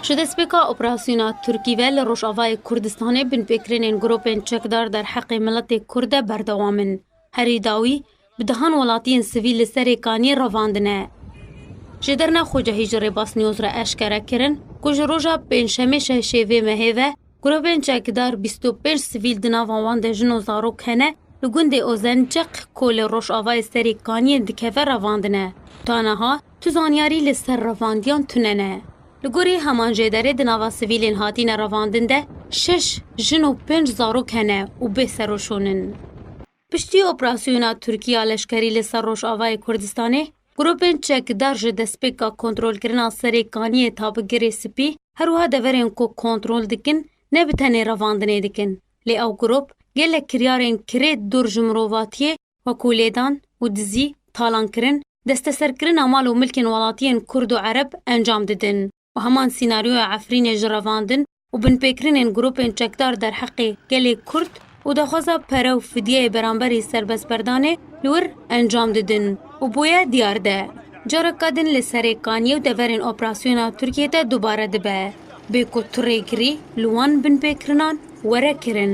Ji destpêka operasyona Tirkî ve li Rojavayê Kurdistanê binpêkirinên grûpên çekdar derheqê miletê Kurd de berdewam in. Herî dawî bi dehan welatiyên sivîl li serê kaniyê revandine. Ji derna Xocehî ji Rêbasnîyoz re eşkere kirin ku ji roja pêncşemê şeş ê vê mehê ve, Grûpên çekdar bîst û pênc sivîl di nava wan de jin û zarok hene li gundê Ozençiq ku li rojavayê serê kaniyên dikeve revandine. Ta niha tu zanyarî li ser revandiyan tune ne. Li gorî heman jê derê di nava sivîlên hatîne revandin de şeş jin û pênc zarok hene û bê seroşûn in. Piştî operasyona Tirkî ya leşkerî li ser Rojavayê Kurdistanê, grûpên çekdar ji destpêka kontrolkirina serê kaniyê ta bi Girê Spî, her wiha deverên ku kontrol dikin ne bi tenê revandinê dikin, lê ew grûp gelek kiryarên kirê dûr ji mirovatiyê wekû lêdan û dizî, talankirin, desteserkirina mal û milkên welatiyên Kurd û Ereb encam didin. û heman sînaryoya Efrînê ji revandin û binpêkirinên grûpên çekdar derheqê gelê Kurd û daxwaza pere û fidyeyê beramberî serbestberdanê li wir encam didin û bûye diyar de careke din li serê kanîyê û deverên operasyona Tirkiyê de dubare dibe bê ku tu rêgirî li wan binpêkirinan were kirin.